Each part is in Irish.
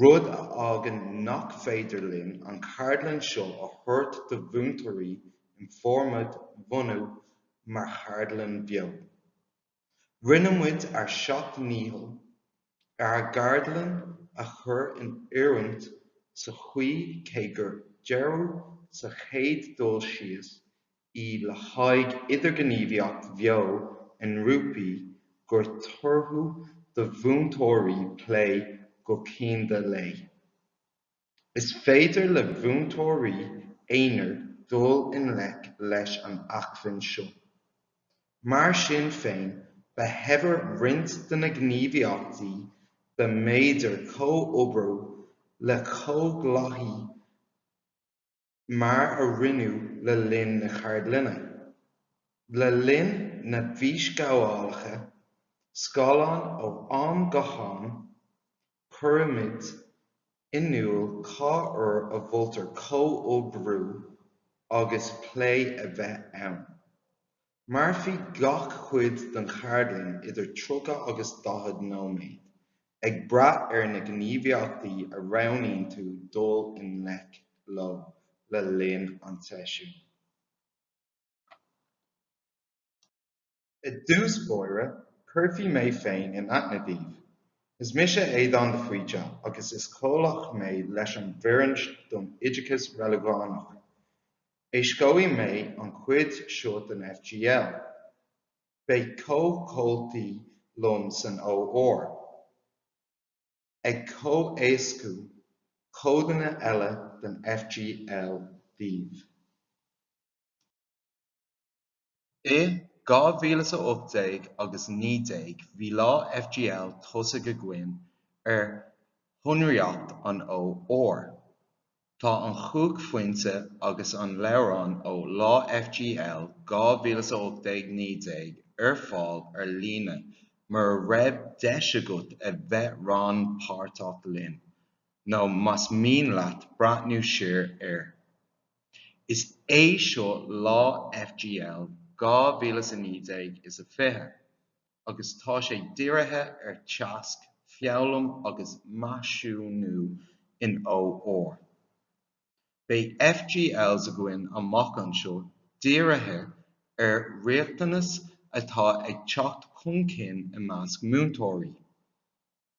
rud a fhágann nach féidir linn an cheardlann seo a thabhairt do mhúinteoirí ina formáid bhunaidh mar cheardlann bheo. Rinne muid ár seacht ndícheall ar an gceardlann a chur in oiriúint sa chaoi cé gur dearadh sa chéad dul síos í le haghaidh idirghníomhaíocht bheo i ngrúpaí gur tortha do mhúinteoirí plé go cianda léi. Is féidir le múinteoirí aonair dul i ngleic leis an acmhainn seo. Mar sin féin, ba shaibhre roinnt de na gníomhaíochtaí dá mb'fhéidir comhoibriú le comhghleacaithe mar a rinneadh le linn na ceardlainne. Le linn na bhfísghabhálacha scáileáin ó am go ham, cuirimid in iúl cá huair a mholtar comhoibriú agus plé a bheith ann. Mairfidh gach cuid den cheardlann idir 30 agus 40 nóiméad, ag brath ar na gníomhaíochtaí a roghnaíonn tú dul i ngleic leo le linn an tseisiúin. I dtús báire, cuirfidh mé féin in aithne daoibh. Is mise Aodán de Faoite agus is comhlach mé leis an bhfoireann don Oideachas Reiligiúnach. Éascóidh mé an chuid seo den FGL. Beidh comhchomhaltaí liom san OR ag comhéascú codanna eile den FGL daoibh. I 2018 agus 19 bhí lá FGL tosaigh againn ar shonraíocht an OR. Tá an Chumhachtphointe agus an leabhrán ó Lá FGL 2018 19 ar fáil ar líne mura raibh deis agat a bheith rannpáirteach linn nó más mian leat breathnú siar air. Is é seo lá FGL 2019 is a fiche agus tá sé dírithe ar teagasc, foghlaim agus measúnú in OR. Beidh FGLs againn amach anseo dírithe ar riachtanas atá ag teacht chun cinn i measc múinteoirí.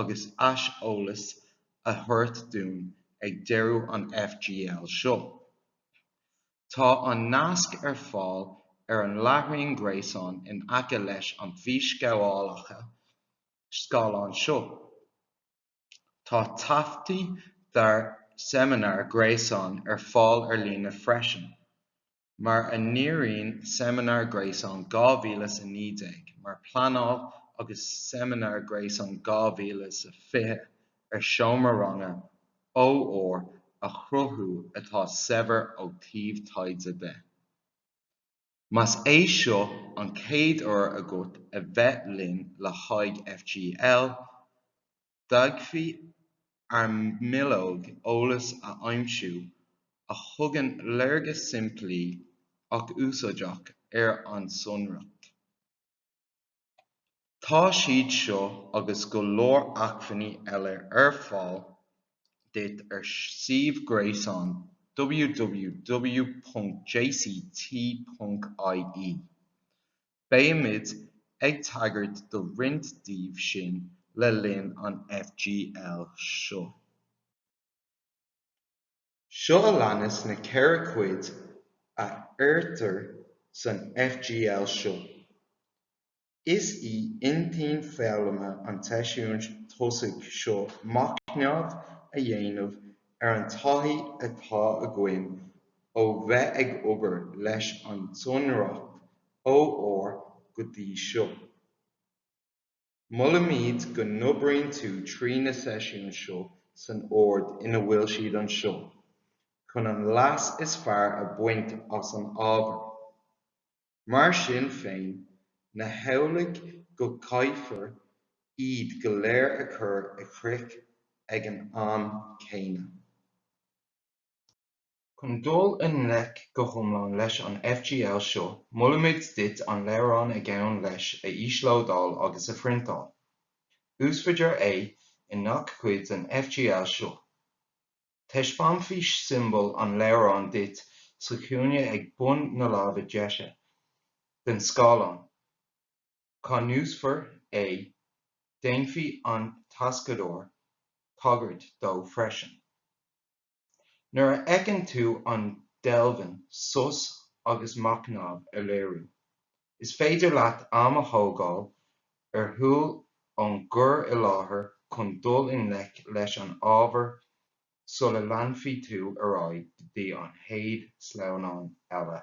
agus aiseolas a thabhairt dúinn ag deireadh an FGL seo. Tá an nasc ar fáil ar an láithreán gréasáin in aice leis an bhfísghabhálacha scáileáin seo. Tá taifeadtaí dár seimineáir gréasáin ar fáil ar líne freisin. mar a ndíríonn seimineár gréasáin 2019 mar pleanáil agus seimineár gréasáin 2020 ar seomra ranga OR a chruthú atá saibhir ó taobh taighde de. Más é seo an chéad uair agat a bheith linn le haghaidh FGL, d'fhéadfá ár mbileog eolais a aimsiú a thugann léargas simplí ach úsáideach ar an sonraíocht. Tá siad seo agus go leor acmhainní eile ar fáil duit ar suíomh gréasáin www.jct.ie. Beimid ag tagairt do roinnt díobh sin le linn an FGL seo. Seo a leanas na ceithre cuid a chuirtear san FGL seo. Is í intinn foghlama an tseisiúin tosaigh seo machnamh a dhéanamh ar an taithí atá againn ó bheith ag obair leis an tsonraíocht OR go dtí seo. Molaimid go n-oibríonn tú trí na seisiúin seo san ord ina bhfuil siad anseo chun an leas is fearr a bhaint as an ábhar. Mar sin féin, ní hamhlaidh go gcaithfear iad go léir a chur i gcrích ag an am céanna. Chun dul i ngleic go hiomlán leis an FGL seo, molaimid duit an leabhrán a ghabhann leis a íoslódáil agus a phriontáil. Úsáidfear é i ngach cuid den FGL seo. Taispeánfaidh siombail an leabhráin duit sa chúinne ag bun na láimhe deise den scáileán cá n-úsáidfear é. Déanfaidh an t-éascaitheoir tagairt dó freisin. Nuair a fheiceann tú an deilbhín sos agus machnamh á léiriú, is féidir leat am a thógáil ar shiúl ón gcur i láthair chun dul i ngleic leis an ábhar sula leanfaidh tú ar aghaidh go dtí an chéad sleamhnán eile.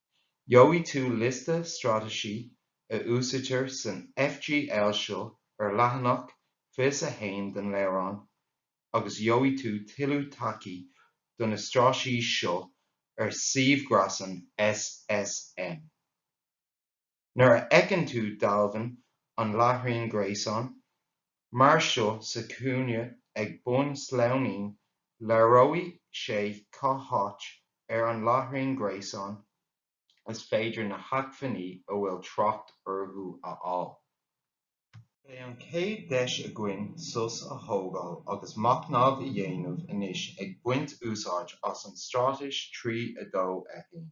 Gheobhaidh tú liosta straitéisí a úsáidtear san FGL seo ar leathanach fiche is a 1 den leabhrán agus gheobhaidh tú tuilleadh tacaí do na straitéisí seo ar suíomh greasáin SSM. Nuair a fheiceann tú dealbh an láithreáin gréasáin mar seo sa chúinne ag bun sleamhnáin, léireoidh sé cá háit ar an láithreán gréasáin is féidir na hacmhainní a bhfuil trácht orthu a fháil. Beidh an chéad deis againn sos a thógáil agus machnamh a dhéanamh anois ag baint úsáid as an straitéis trí a dó a haon.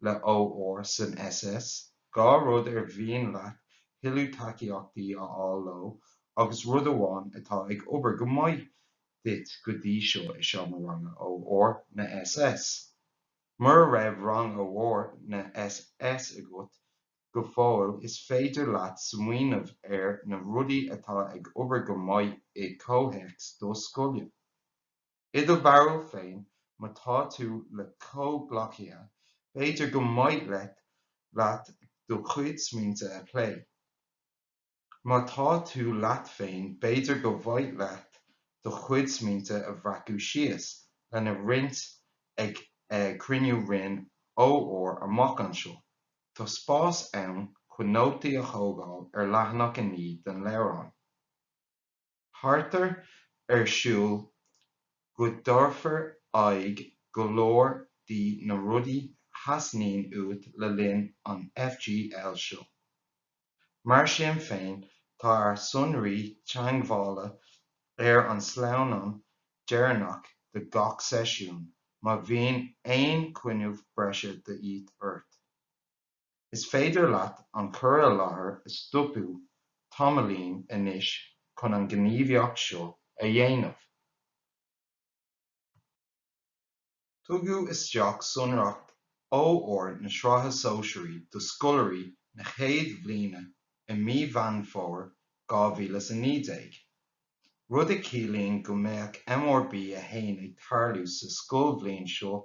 le OR san SS, dhá rud ar mhian leat tuilleadh tacaíochta a fháil leo agus rud amháin atá ag obair go maith duit go dtí seo i seomra ranga OR na SS. Mura raibh rang OR na SS agat go fóill is féidir leat smaoineamh ar na rudaí atá ag obair go maith i gcomhthéacs do scoile. I do bharúil féin, má tá tú le comhghleacaithe, b'fhéidir gur mhaith leat do chuid smaointe a phlé. Má tá tú leat féin, b'fhéidir gur mhaith leat do chuid smaointe a bhreacadh síos lena roinnt ag cruinniú roinn OR amach anseo. Tá spás ann chun nótaí a thógáil ar leathanach a 9 den leabhrán. Táthar ag súil go dtabharfar aghaidh go leor de na rudaí a theastaíonn uait le linn an FGL seo. Mar sin féin, tá ár sonraí teangmhála ar an sleamhnán deireanach de gach seisiún má bhíonn aon chúnamh breise de dhíth ort. Is féidir leat an cur i láthair a stopadh tamaillín anois chun an ghníomhaíocht seo a dhéanamh. Tugadh isteach sonraíocht OR na Sraithe Sóisearaí do scoláirí na chéad bhliana i mí Mheán Fómhair 2019, rud a chiallaíonn go mbeidh MRB 1 ag tarlú sa scoilbhliain seo.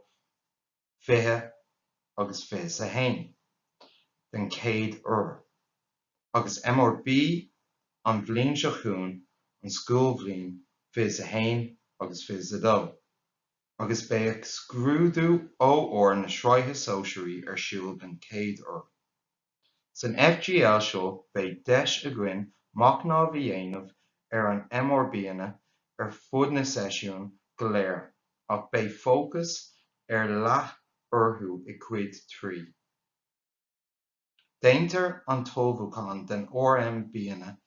20 agus 21 den chéad uair, agus MRB an bhliain seo chugainn an scoilbhliain 21 agus 22, agus beidh scrúdú OR na Sraithe Sóisearaí ar siúl den chéad uair. San FGL seo beidh deis againn machnamh a dhéanamh ar na MRBanna ar fud na seisiún go léir ach beidh fócas ar leith orthu i gcuid 3. Déantar an t-ullmhúchán den RMBanna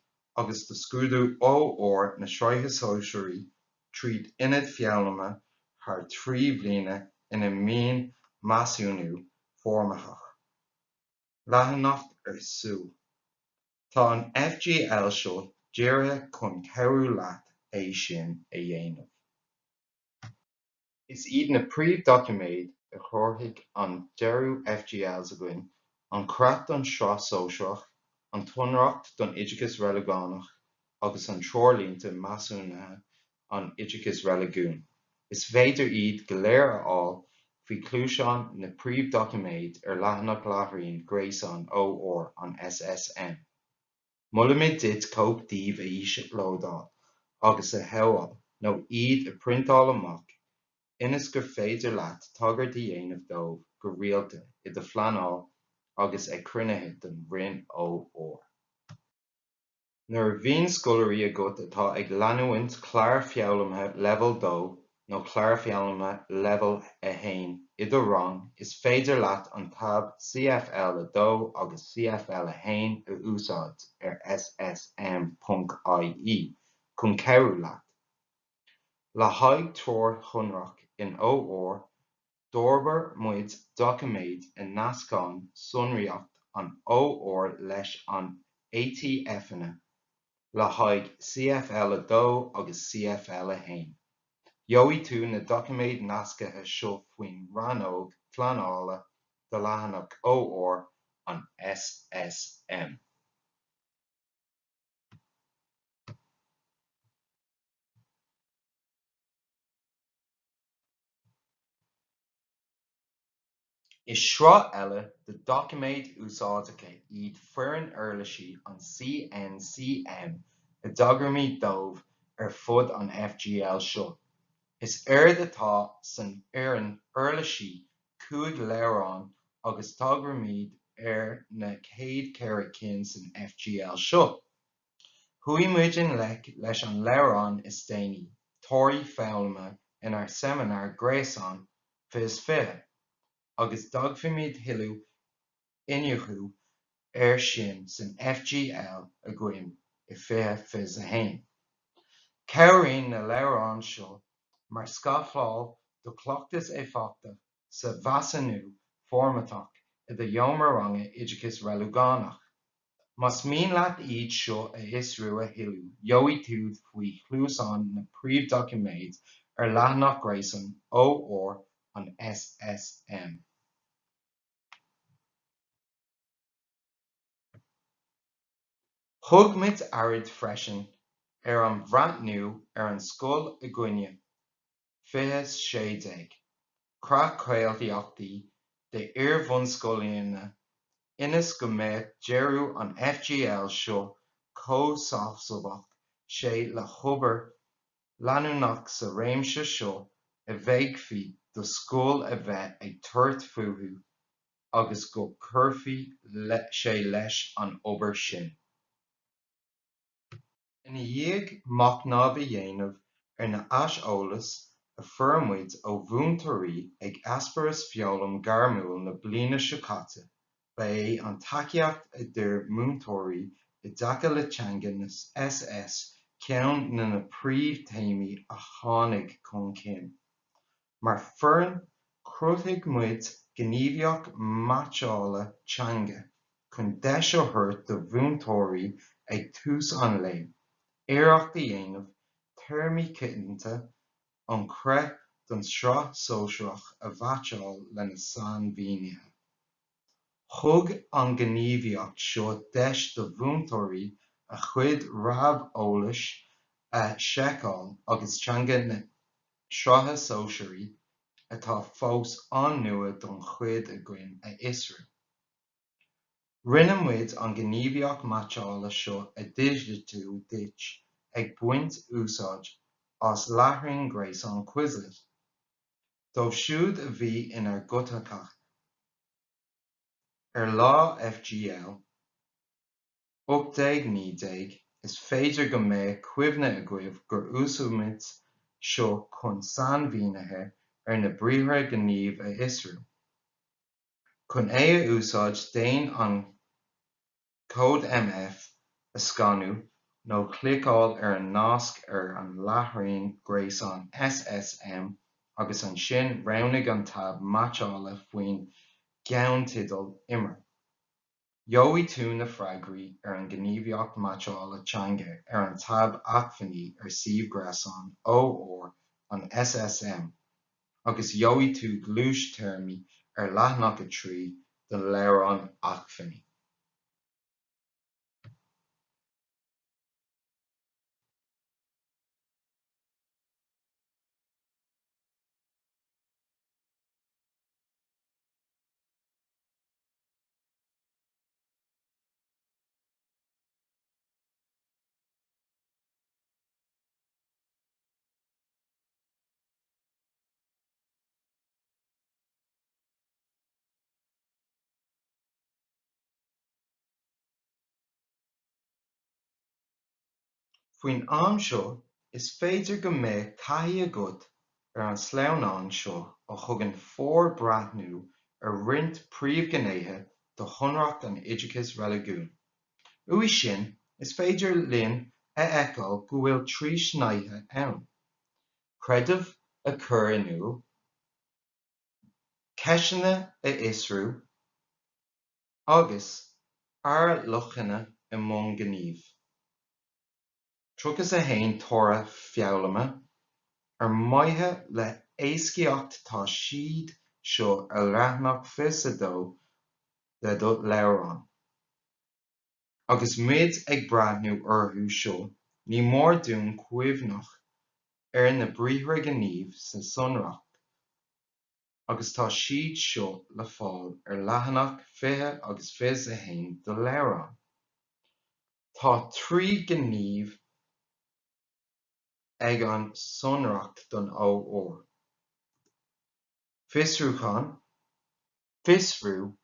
agus do scrúdú OR na Sraithe Sóisearaí trí aonaid foghlama thar trí bhliana ina mbíonn measúnú foirmitheach. leanúnach ar siúl. Tá an FGL seo dírithe chun cabhrú leat é sin a dhéanamh. Is iad na príomhdhoiciméid a threoróidh an dearadh FGLs againn, an creat don tSraith Shóisearach, an tsonraíocht don oideachas Reiligiúnach agus na treoirlínte measúnaithe an oideachais reiligiúin. Is féidir iad go léir a fháil faoi chluaiseáin na príomhdhoiciméad ar leathanach láithreáin gréasáin OR an SSM. Molaimid duit cóip díobh a íoslódáil agus a shábháil nó iad a phriontáil amach ionas gur féidir leat tagairt a dhéanamh dóibh go rialta i do phleanáil agus ag cruinnithe den Roinn OR. Nuair a bhíonn scoláirí agat atá ag leanúint clár foghlama leibheal 2 nó clár foghlama leibheal 1 i do rang is féidir leat an táb CFL2 agus CFL1 a úsáid ar SSM.ie chun cabhrú leat. Le haghaidh treoir shonrach in OR, d'fhorbair muid doiciméid a nascann sonraíocht an OR leis na ATFanna le haghaidh CFL2 agus CFL1. Gheobhaidh tú na doiciméid nasctha seo faoin rannóg Pleanála de leathanach OR an SSM. Is sraith eile de dhoiciméid úsáideacha iad Foireann Uirlisí an CNCM a dtagraímid dóibh ar fud an FGL seo. Is éard atá san fhoireann uirlisí cúig leabhrán agus tagraímid do na chéad cheithre cinn san FGL seo. Chuaigh muid i ngleic leis an leabhrán is déanaí, Torthaí Foghlama, inár seimineár gréasáin Fiche is Fiche, agus déanfaimid thuilleadh iniúchadh air sin san FGL againn i Fiche Fiche is a 1. Cabhraíonn na leabhráin seo mar scafláil do chleachtas éifeachtach sa mheasúnú foirmitheach i do sheomra ranga oideachas reiligiúnach. Más mian leat iad seo a fhiosrú a thuilleadh gheobhaidh tú faoi chluaisín na príomhdhoiciméid ar leathanach gréasáin OR an SSM. Thug muid aird freisin ar an bhreathnú ar an scoil againne. 2016, Creat Cáilíochtaí d'Iar-bhunscoileanna ionas go mbeadh dearadh an FGL seo comhsheasmhach sé le hobair leanúnach sa réimse seo a bhféadfaí do scoil a bheith ag tabhairt fúthu agus go gcuirfeadh sé leis an obair sin. Ina dhiaidh machnamh a dhéanamh ar an aiseolas a fuair muid ó mhúinteoirí ag Eispéireas Foghlaim Ghairmiúil na bliana seo caite, ba é an tacaíocht a d'iarr múinteoirí i dtaca le teanga na SS ceann de na príomh-théamaí a tháinig chun cinn. Mar foireann, chruthaigh muid gníomhaíocht meaitseála teanga chun deis a thabhairt do mhúinteoirí ag tús an lae iarracht a dhéanamh téarmaí coitianta an chreat don tsraith sóisearach a mheaitseáil lena sainmhínithe. Thug an ghníomhaíocht seo deis do mhúinteoirí a chuid reamheolais a sheiceáil agus teanga na Sraithe Sóisearaí, atá fós an-nua don chuid againn, a fhiosrú. Rinne muid an ghníomhaíocht meaitseála seo a dhigitiú duit ag baint úsáid as láithreán gréasáin Quizlet. dóibh siúd a bhí inár gcuideachta ar lá FGL 1819, is féidir go mbeadh cuimhne agaibh gur úsáid muid seo chun sainmhínithe ar na briathra gnímh a fhiosrú. Chun é a úsáid, déan an. cód MF a scanadh nó cliceáil ar an nasc ar an láithreán gréasáin SSM agus ansin roghnaigh an táb Meaitseála faoin gceannteideal Imir. Gheobhaidh tú na freagraí ar an ngníomhaíocht meaitseála teanga ar an táb Acmhainní ar suíomh gréasáin O R an SSM. agus gheobhaidh tú gluais téarmaí ar leathanach 3 den leabhrán acmhainní. Faoin am seo, is féidir go mbeidh taithí agat ar an sleamhnán seo a thugann forbhreathnú ar roinnt príomhghnéithe de shonraíocht an oideachais reiligiúin. Uaidh sin, is féidir linn a fheiceáil go bhfuil trí shnáithe ann. creideamh a chur in iúl, ceisteanna a fhiosrú, agus ár luachanna i mbun gnímh. 31 toradh foghlama ar mhaithe le héascaíocht tá siad seo ar leathanach 22 de do leabhrán. Agus muid ag breathnú orthu seo, ní mór dúinn cuimhneamh ar na briathra gnímh sa sonraíocht agus tá siad seo le fáil ar leathanach 20 agus 21 do leabhrán. Tá trí ghné ag an sonraíocht don O R, fiosrúchán, fiosrú,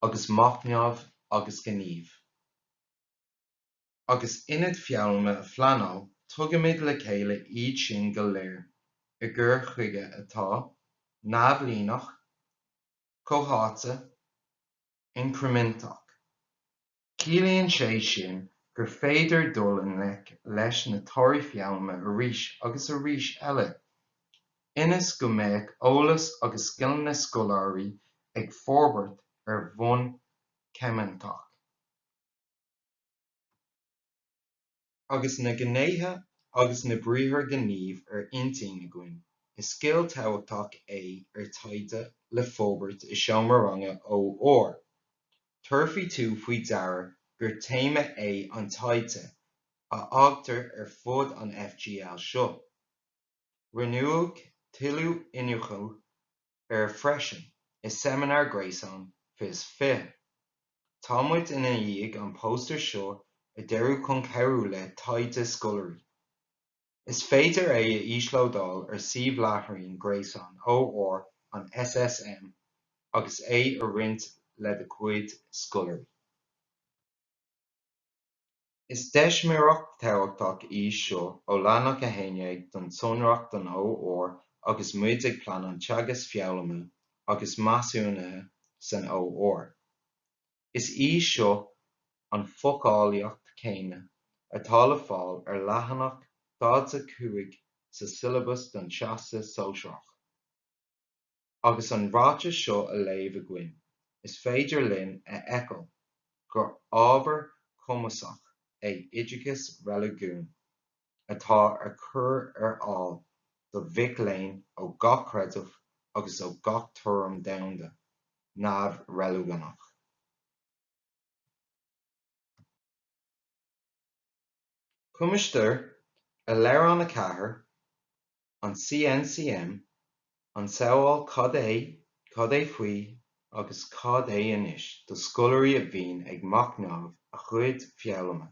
agus machnamh agus gníomh. Agus aonad foghlama a phleanáil, tugaimid le chéile iad sin go léir i gcur chuige atá neamhlíneach, comhtháite, incriminteach. Ciallaíonn sé sin gur féidir dul i ngleic leis na torthaí foghlama arís agus arís eile, ionas go mbeadh eolas agus scileanna scoláirí ag forbairt ar bhonn incriminteach. Agus na gnéithe agus na briathra gnímh ar intinn againn, is scil tábhachtach é ar taighde le forbairt i seomra ranga OR. Tabharfaidh tú faoi deara gur téama é an taighde a fhaightear ar fud an FGL seo. Rinneadh tuilleadh iniúchadh air freisin i seimineár gréasáin 2020. Tá muid ina dhiaidh an póstaer seo a dearadh chun cabhrú le taighde scoláirí. Is féidir é a íoslódáil ar suíomh láithreán gréasáin OR an SSM agus é a roinnt le do chuid scoláirí. Is deismireacht tábhachtach í seo ó leathanach 11 den tsonraíocht don OR agus muid ag pleanáil teagasc foghlama agus measúnaithe san OR. Is í seo an foclaíocht chéanna atá le fáil ar leathanach 45 sa siollabas don Teastas Sóisearach. Agus an ráiteas seo a léamh againn, is féidir linn a fheiceáil gur ábhar cuimsitheach é oideachas reiligiúin atá á chur ar fáil do mhic léinn ó gach creideamh agus ó gach tuairim domhanda neamh-reiligiúnach. Cuimsítear i leabhrán 4, an CNCM, an samhail 'cad é, cad é faoi agus cad é anois' do scoláirí a bhíonn ag machnamh a gcuid foghlama.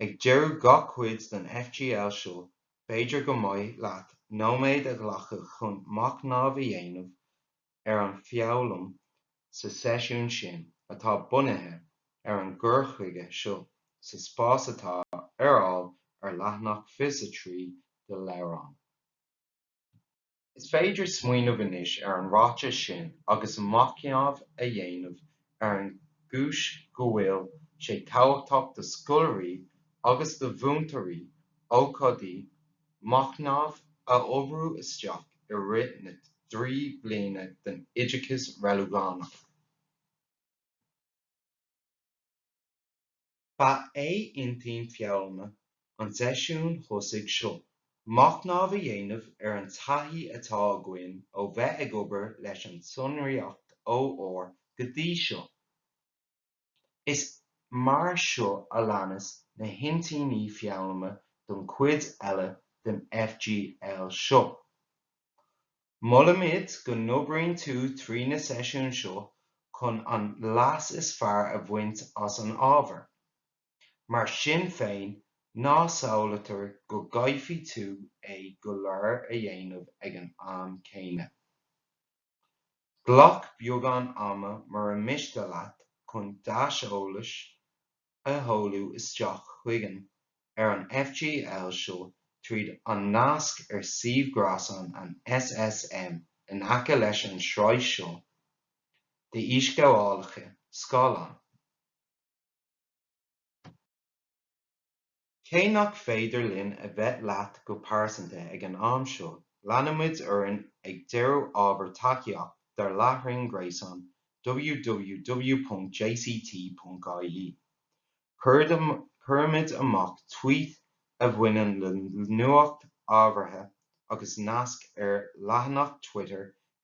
Ag deireadh gach cuid den FGL seo b'fhéidir go mba mhaith leat nóiméad a ghlacadh chun machnamh a dhéanamh ar an foghlaim sa seisiún sin atá bunaithe ar an gcur chuige seo sa spás atá ar fáil ar leathanach 23 de do leabhrán Is féidir smaoineamh anois ar an ráiteas sin agus machnamh a dhéanamh ar an gcúis go bhfuil sé tábhachtach do scoláirí agus do mhúinteoirí ócáidí machnaimh a oibriú isteach i rith na dtrí bliana den oideachas reiligiúnach. Ba é intinn foghlama an tseisiúin thosaigh seo machnamh a dhéanamh ar an taithí atá againn ó bheith ag obair leis an tsonraíocht OR go dtí seo. Is mar seo a leanas na hintinní foghlama don chuid eile den FGL seo. Molaimid go n-oibríonn tú trí na seisiúin seo chun an leas is fearr a bhaint as an ábhar. Mar sin féin, ná samhlaítear go gcaithfidh tú é go léir a dhéanamh ag an am céanna. Glac beagán ama mura miste leat chun d'aiseolas a sheoladh isteach chugainn ar an FGL seo tríd an nasc ar suíomh gréasáin an SSM in aice leis an tsraith seo d'fhísghabhálacha scáileáin. Cé nach féidir linn a bheith leat go pearsanta ag an am seo, leanfaimid orainn ag dearadh ábhar tacaíochta dár láithreán gréasáin www.jct.ie. Cuirimid amach tvuít a bhaineann le nuacht ábhartha agus nasc ár leathanach Twitter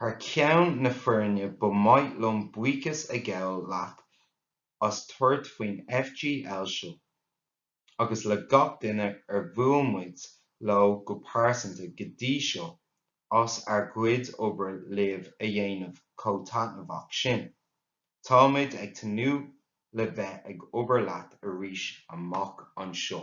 Thar ceann na foirne ba mhaith liom buíochas a ghabháil leat as tabhairt faoin FGL seo agus le gach duine ar bhuail muid leo go pearsanta go dtí seo as ár gcuid obair libh a dhéanamh chomh taitneamhach sin. Táimid ag tnúth le bheith ag obair leat arís amach anseo.